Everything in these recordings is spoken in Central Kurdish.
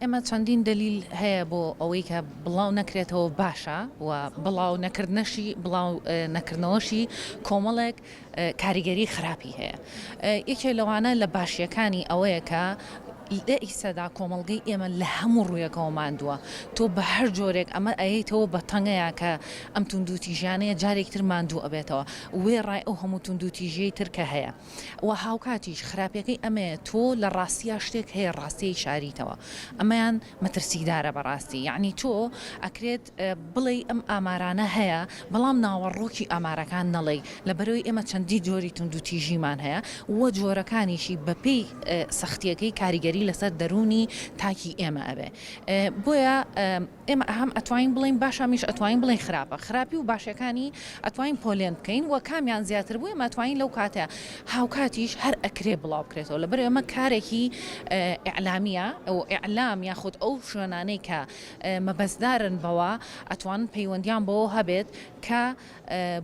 ئێمە چەندین دەلیل هەیە بۆ ئەوەی کە بڵاو نەکرێتەوە باشە و بڵاو نەکردنەشی بڵاو نەکردنەوەشی کۆمەڵێک کاریگەری خراپی هەیە یەکێ لەوانە لە باشیەکانی ئەوەیە کە لە ئیسەدا کۆمەلگەی ئێمە لە هەموو ڕوویەکەەوە ماندووە تۆ بە هەر جۆرێک ئەمە ئەیتەوە بە تەنگەیە کە ئەم توندوتیژیانەیە جارێکتر ماندوو ئەبێتەوە وێ ڕای ئەو هەموو توندوتیژیەی ترکە هەیە وە هاوکاتیش خراپیەکەی ئەمەیە تۆ لە ڕاستیا شتێک هەیە ڕاستیەی شاریتەوە ئەمەیان مەترسیدارە بەڕاستی یەعنی تۆ ئەکرێت بڵێی ئەم ئامارانە هەیە بەڵام ناوەڕۆکی ئامارەکان نەڵێی لەبەرەوەی ئێمە چەندی جۆری توندوتیژیمان هەیە وە جۆرەکانیشی بەپێی سەختیەکەی کاریگەری لەسەر دەرونی تاکی ئێمە ئەبێ بۆیە ئێمە هەم ئەتوانین بڵێین باشە هەمیش ئەتوانین بڵێین خراپە خراپی و باشیەکانی ئەتوانین پۆلێن بکەین و کامیان زیاتر بوو ئێمە توانین لەو کاتە هاوکاتیش هەر ئەکرێ بڵاو بکرێتەوە لەبەر ئێمە کارێکی ئیعلامیە ئەو ئیعلام یاخود ئەو شوێنانەی کە مەبەستدارن بەوە ئەتوان پەیوەندیان بەوە هەبێت کە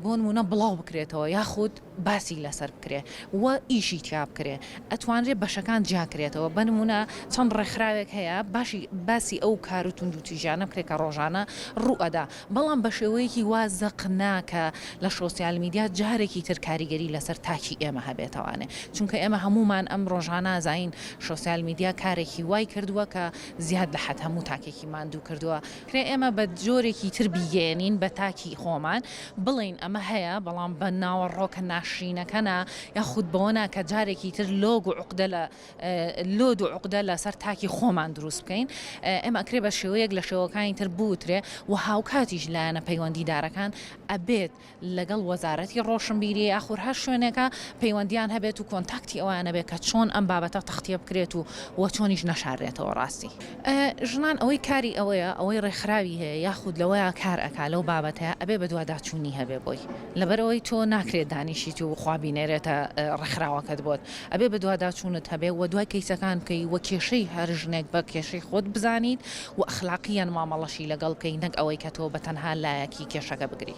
بۆنموونە بڵاو بکرێتەوە یاخود باسی لەسەر بکرێ و ئیشی تیا بکرێ ئەتوانرێ بەشەکان جیاکرێتەوە بەنمونە چەند ڕێکخراوێک هەیە باشی باسی ئەو کار و توند و تیژانە بکرێت کە ڕۆژانە ڕوئەدا بەڵام بە شێوەیەکی وا زەق نا کە لە شۆسیال میدیا جارێکی تر کاریگەری لەسەر تاکی ئێمە هەبێتەوانێ چونکە ئێمە هەموومان ئەم ڕۆژانە زین شۆسیال میدیا کارێکی وای کردووە کە زیاد لە حەد هەموو تاکێکی ماندوو کردووە کرێ ئێمە بە جۆرێکی تر بیگەیەنین بە تاکی خۆمان بڵێین ئەمە هەیە بەڵام بە ناوەڕۆکە ناشرینەکە نا یاخود بەوە نا کە جارێکی تر لۆگ و عوقدە لە لۆد و عوقدە لەسەر تاکی خۆمان دروست بکەین ئێمە ئەکرێ بە شێوەیەک لە شێوەکانی تر بوترێ و هاوکاتیش لایەنە پەیوەندیدارەکان ئەبێت لەگەڵ وەزارەتی ڕۆشنبیریی ئاخور هەر شوێنێکە پەیوەندییان هەبێت و کۆنتاکتی ئەویان هەبێت کە چۆن ئەم بابەتە تەختییە بکرێت و و چۆنیش نەشاررێتەوە ڕاستی ژنان ئەوەی کاری ئەوەیە ئەوەی ڕێکخراوی هەیە یاخود لەوەیە کار ئەکا لەو بابەتەیە ئەبێ بەدواداچوونی هەبێ بۆی لەبەرئەوەی تۆ ناکرێت دانیشیت و خوا بینێرێتە ڕێکخراوەکەت بۆت ئەبێ بەدواداچوونت هەبێ و دوای کەیسەکان بکەی و کێشەی هەر ژنێک بە کێشەی خۆت بزانیت و ئەخلاقییەن مامەڵەشی لەگەڵ بکەی نەک ئەوەی کە تۆ بەتەنها لایەکی کێشەکە بگری.